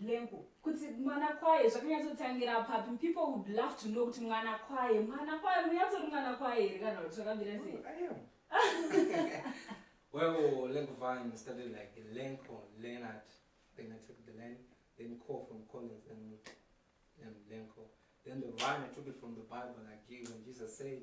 lengo kuti mwana kwaye zvakanyatsotangira papi people would love to know kuti mwana kwaye mwana kwaye munyatsori mwana kwaye here kana kuti zvakambira sei well lengo vine started like lenko leonard then i took the len then call from collins then then lenko then the vine i took it from the bible like you when jesus said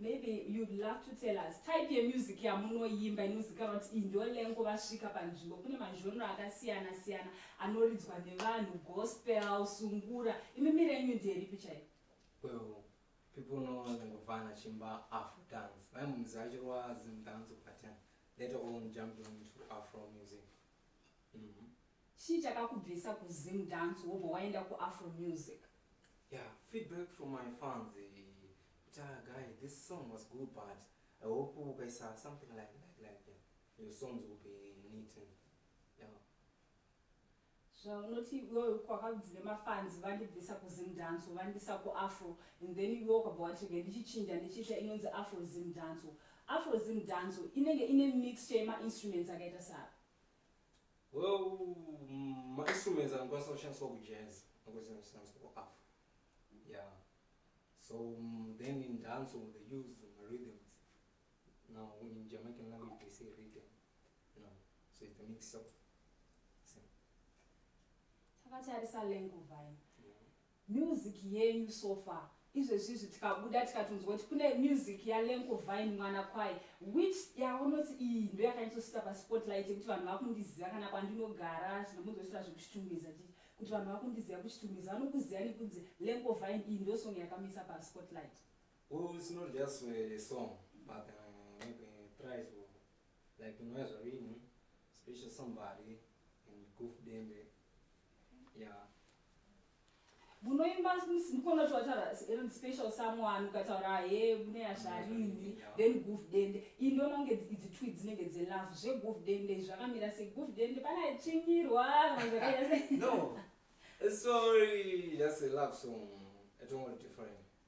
Maybe you'd love to tell us type yemusic yamunoimba inozikanwa kuti iyi ndiyo lengo vasvika panzvimbo kune mazhonro akasiyana siyana anoridzwa nevanhu gospel sungura imi miri yenyu ndiyeripi chaiyo well people know lengovana chimba afro dance vaimuziva chirwa zimdance but uh, later on jumped on to afro music mm -hmm. chii chakakubvisa kuzimdance wobva waenda kuafro music Yeah, feedback from my fans. Tell guy, this song was good, but I hope you guys are something like like like yeah. Your songs will be neat and yeah. zvaunoti iwewe kwakabvire mafanzi vandibvisa kuzim dance vandisa kuafro and then iwe ukabva watirega ndichichinja ndichiita inonzi afro zim dance afro zim dance inenge ine mixture yemainstruments akaita saa Well, mm, ma instruments anokwanisa kushandiswa kujazz anokwanisa kushandiswa kuaf yeah so mm, then in dancehall they use marhythms now in jamaican language they say rhythm you know so it's a mix up same takatarisa lenguvai yeah. Music yenyu so far izvezvizvi tikabuda tikatonzwa kuti kune music yalenko vine mwana kwaye which yaunoti iyi ndo yakanyatsosvitsa paspotlight yekuti vanhu vakundiziva kana kwandinogara zvinomunzosvitsa zvekuchitungiza chii kuti vanhu vakundiziva kuchitungiza vanokuziva nekunzi lenko vine iyi ndo song yakamisa paspotlight well, it's not just a song but uh, maybe a prize or like unouya zvarini special somebody Guf dembe. Yeah. munoimba ndikona kuti wataura eren special someone ukataura he mune yasharini then guf dende iyi ndoona kunge idzi twi dzinenge dzelove zveguf dende izvi zvakamira sei guf dende pane achinyirwa no sorry just a love song atongori different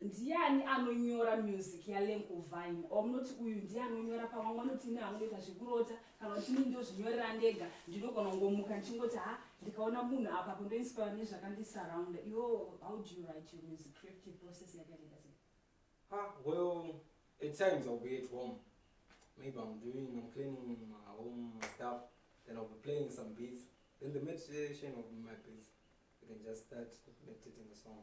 Ndiyani anonyora music yalenko vine or munoti uyu ndiye anonyora pamwe vanoti ini hangoita zvekurota kana kuti ini ndozvinyorera ndega ndinogona kungomuka ndichingoti ha ndikaona munhu apa kundoinspire nezvakandisurrounda yo how do you write your music creative process yakaenda sei ha well at times i'll be at home maybe i'm doing i'm cleaning my home stuff then i'll be playing some beats then the meditation of my beats you can just start meditating a song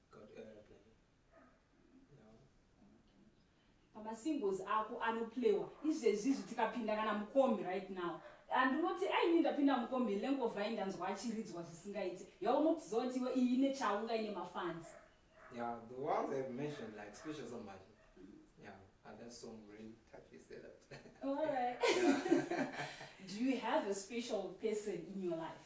pamasingles ako anoplaywa izvezvi izvi tikapinda kana mukombi right now andinoti aini ndapinda mukombi lengovai ndanzwa achiridzwa zvisingaiti yaunokuziva iwe iyi ine chaunga ine mafans yeah the ones have mentioned like special somebody yeah and that song really touches a lot all right yeah. do you have a special person in your life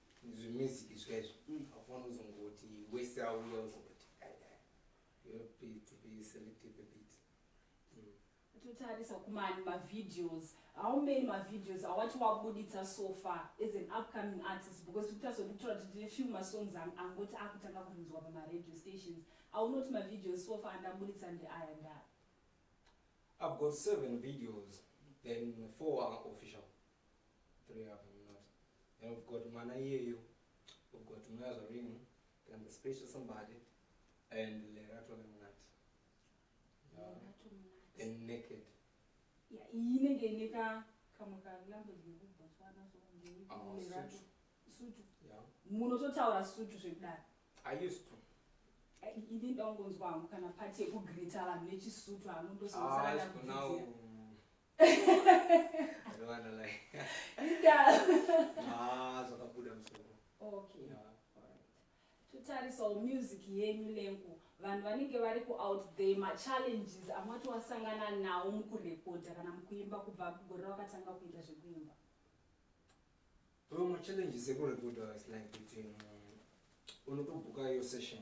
zvemusic zvaizvo mm. afana uzongoti wese auya uzongoti mm. totarisa kumani mavideos how many mavideos awati wabuditsa so far as an upcoming artist because tikutarisa kuti kutora kuti tine few masongs angoti akutanga kunzwa pamaradio stations aunoti mavideos so far andabuditsa ndeaya ndaa i've got seven videos then four are official munototaura sutu zvekudaro ini ndaungonzwa hangu kana pati yekugreeta vanhu nechisutu hangu ndososana totarisawo ah, music yenyu lengu vanhu vanenge vari kuout there machallenges amati wasangana nawo mukurekodha kana mukuimba kubva kugore wakatanga kuita zvekuimba Bro, ma challenges ekurekodha was like kuti um, unotobuka yo session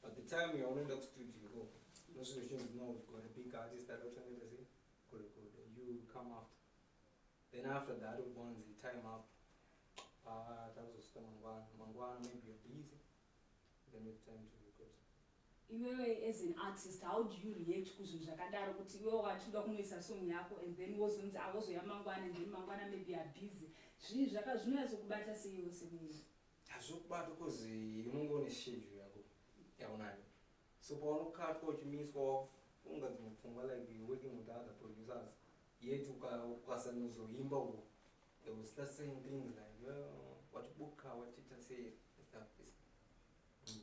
but the time yaunoenda kustudio ko unosvika uchinzi no we've got a big artist that uchanenda sei kurekodha you come after then after that ubonzi time up ah, takuzosvika mangwana mangwana maybe you're busy iwewe as an artist how do you react kuzvinhu zvakadaro kuti iwewe wachida kunoisa song yako and then wozonzi awozoya mangwana and then mangwana maybe are busy zvii zvaka zvinoyatsokubata seiwe semunhu hazvokubata bcause unonge une schedule yako yaunayo so paunokatwa uchimiswa wakufunga dzimwe pfungwa like working with other producers yet ukasanozoimba uko they will start saying things like oh, watibuka watiita sei stuff this mm.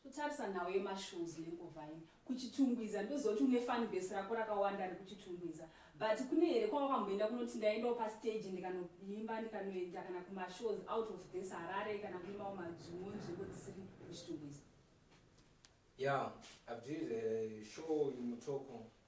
totarisa nhau yemashows nenguva ini kuchitungwiza ndozoti une fan base rako rakawanda ari kuchitungwiza but kune here kwawakamboenda kunoti ndaendawo pastage ndikanoimba ndikanoenda kana kumashows out of this harare kana kuimawo madzvimwe nzvimbo dzisiri kuchitungwiza ya yeah, i've did a show in mutoko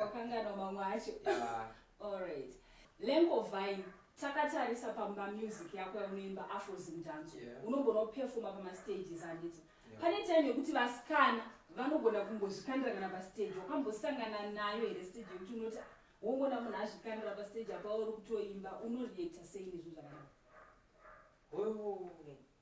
wakanganwa mamwe acho allright lengovine takatarisa pamba music yako yaunoimba afrozim dance yeah. unogona kupefoma pamastages anditi yeah. pane time yekuti vasikana vanogona kungozvikandira kana pastage wakambosangana nayo here stage yekuti unoti wongona munhu azvikandira pastage apa uri kutoimba unoreacta sei nezvinhu zvakadai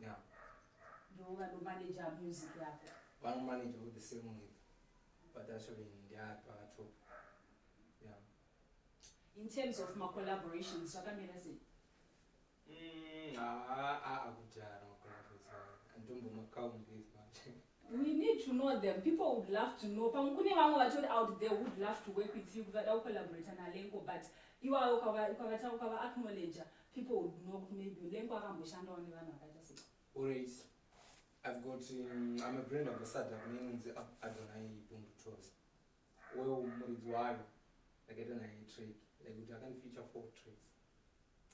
Yeah. Ndiwo vanomanager music yako. Vanomanager with the same with but actually ndiari pakatop. Yeah. In terms of my collaborations, zvakamira sei? Mm, ah, ah, ah, kudhara macollaborations. Anditombomakaundi manje. We need to know them. People would love to know. Pamwe kune vamwe vatori out there would love to work with you kuvada kucollaborata naLenko but iwawe ukavata ukava acknowledger people would know kuti maybe Lenko akamboshandawo nevanhu vakaita sei. Alright. I've got um, I'm a brand ambassador kune inonzi Adonai Bumbu Tours. Wewe muridzi wayo ndakaita naye trade like kuti akandifeature four trades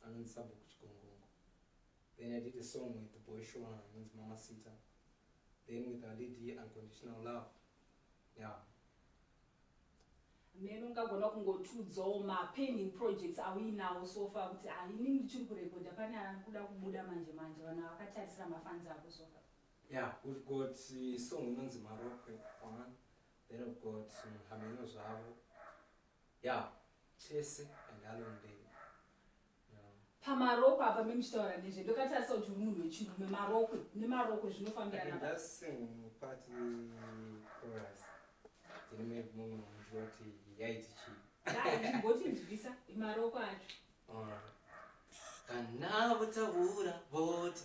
anonzi Sabhuku Chigongongo. Then I did a song with the boy Shona inonzi Mama Sita. Then with our lead here, Unconditional Love. Yeah. mheno ungagona kungotiudzawo mapending projects auinawo so far kuti ah ini ndichiri kurekodha pane ari kuda kubuda manje manje vanhu vakatarisira mafanzi ako so far Yeah, we've got uh, song inonzi Marokwe one. Then we've got um, Hameno Zvavo. Yeah, Chese and Alon Day. pamarokwe apa memuchitaura nezve ndokatarisa kuti uri munhu wechirume marokwe nemarokwe zvinofambiranaaimboti nzwisa marokwe acho kana votaura voti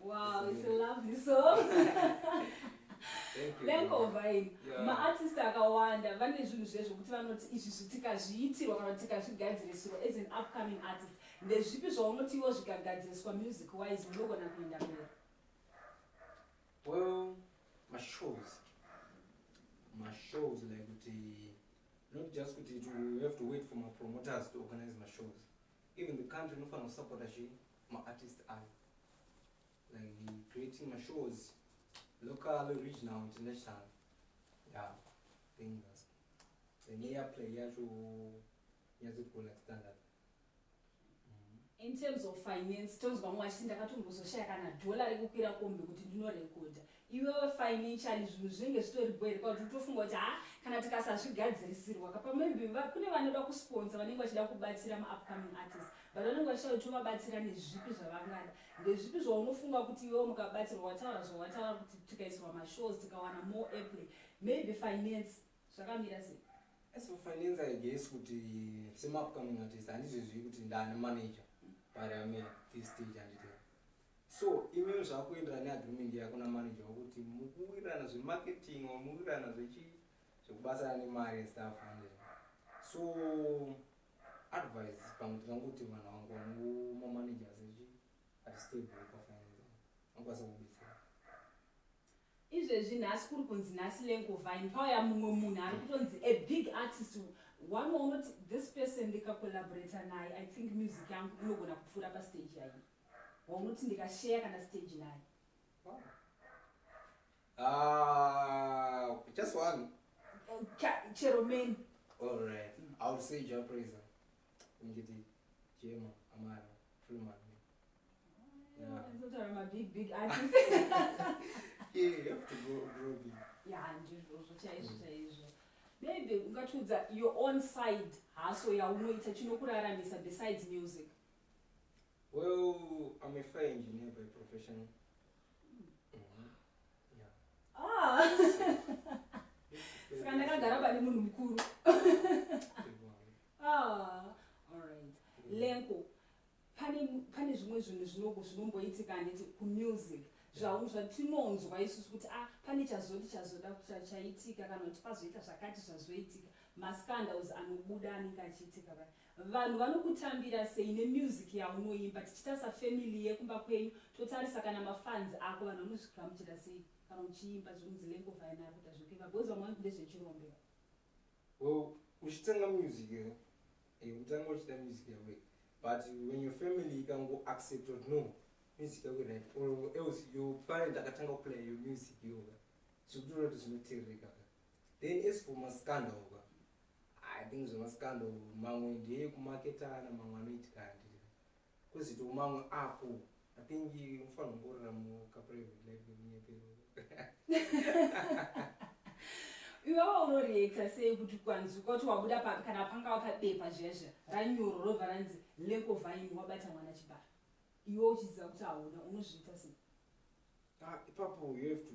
Wow, it's a lovely song. lenkovaini maartist akawanda vane zvinhu zve zvokuti vanoti izvi zvitikazviitirwa kana kuti tikazvigadzirisirwa as an upcoming artist ndezvipi zvaunotiwo zvikagadziriswa music wise unogona kuenda mberi well mashows mashows like kuti not just kuti to have to wait for mapromoters to organize mashows Even the country inofanira kusupporta zve maartist ayo like creating mashows local regional international yeah thing that's then yeah play yeah to yeah to go like standard mm-hmm. in terms of finance tonzwa mwachi ndakatombozoshaya kana dhola rekukwira kombe kuti ndinorekodha iwewe financially zvinhu zvinenge zvitori bho here kwakuti utofunga kuti haa kana tikasazvigadzirisirwa kapa maybe kune vanoda kusponsa vanenge vachida kubatsira maupcoming artist but vanenge vachida kuti uvabatsira nezvipi zvavangada ndezvipi zvaunofunga kuti iwewe mukabatsirwa wataura zvawataura kuti tikaisirwa mashows tikawana more apple maybe finance zvakamira sei as for finance i guess kuti semaupcoming artist handizvezvi kuti ndani manager but ame this stage handitee So imimi zvakuenderana neagreement yako namanager wakuti mukuwirirana zvemarketing or mukuwirirana zvechi zvekubatsirana nemari and stuff and so advice pamwe tingangokuti vanhu vangu vangu mamanagers echi atistable pafinance angokwanisa kubetsera izvezvi nhasi kuri kunzi nhasi lengovine pauya mumwe munhu ari kutonzi a big artist one waunoti this person ndikacollaborata naye i think music yangu inogona kupfuura pastage yaiyi waunoti ndikasheya kana stage naye ah, just one eh, chero many all right i will say jah praiser ngiti jema amara freeman yeah. maybe ungatiudza your own side haso yaunoita chinokuraramisa besides music Well, I'm a fire engineer by profession. Mm-hmm. Yeah. Ah! Saka ndakagara bani munhu mukuru. Ah, all right. Mm. Lenko, pane pane zvimwe zvinhu zvinoko zvinomboitika handiti kumusic zvaunhu zvatinonzwa isusu kuti ah pane chazoti chazoda chaitika kana kuti pazoita zvakati zvazoitika mascandals anobuda anenge achiitika Vanhu vanokutambira sei ne music yaunoimba tichita sa family yekumba kwenyu totarisa kana ma fans ako vanhu vanozvigamuchira sei kana uchiimba zvinzi lengo vhaina ari kuita zvekuimba because vamwe vanoti ndezvechirombe well uchitanga music eh, eh utanga uchita music yawe but when your family ikango accept or no music yawe right or else your parent akatanga kuplaya your music yoga zvikutoona kuti zvinoteerereka then as for maskanda oka I think zvemascandal mamwe ndeye kumaketana mamwe anoitika handiri kwezvito mamwe ako I think unofanira kumborira mukaprivate life nekunyepero iwawa unoreekta sei kuti kwanzi ukoti wabuda papi kana panga wakabepa zhezha ranyoro robva ranzi leko vhaini wabata mwana chibara iwe uchiziva kuti hauna unozviita sei ah, ipapo you have to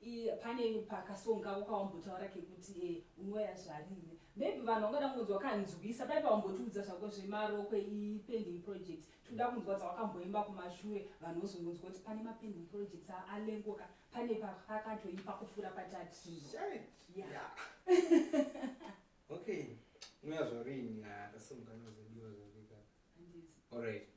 Iye pane pakasong kako kawambotaura kekuti e eh, unoya zvarine maybe vanhu vangada kungonzwa kanzwisa pai pawambotiudza zvako zvemarokwe ipending project tinoda kunzwa dzawakamboimba kumashure vanhu vozongonzwa kuti pane mapending projects alengoka pane pakatoipa kufura patati okay unoya zvarini akasongana zodiwa zvarika alright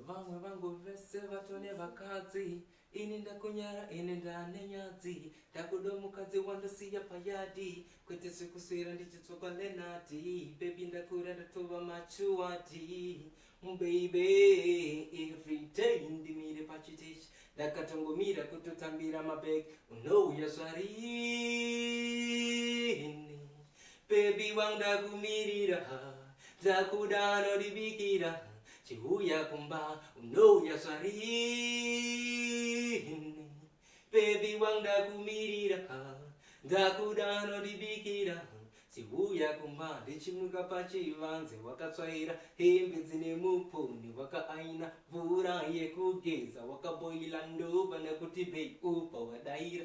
vamwe vangu vese vatone vakadzi ini ndakunyara ini ndane nyadzi ndakuda mukadzi wandosiya payadi kwete zvekuswera ndichitsvakwa lenati bebi ndakura ndatova machuwadi beibe everyday ndimire pachiteshi ndakatongomira kutotambira mabeg unouya zvarini Baby wangu ndakumirira Ndakuda anondibikira Chiuya kumba unouya zvarini Baby wangu ndakumirira Ndakuda anondibikira Chiuya kumba ndichimuka pachivanze Wakatsvaira hembe dzine muponi Wakaaina mvura yekugeza Wakaboila ndoba nekuti bei upa wadaira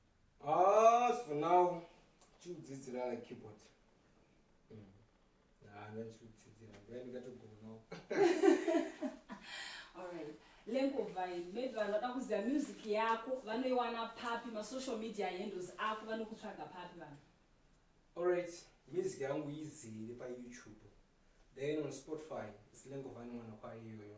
Ah, for now chiudzidzira like keyboard mm. hana chiudzidzira ngai ndikatogonawo alright lengovai maybe vanhu vada kuziva music yako vanoiwana papi masocial media handles ako vanokutsvaga papi vanhu alright music yangu izere payoutube then on spotify silengovani mwana kwayo iyoyo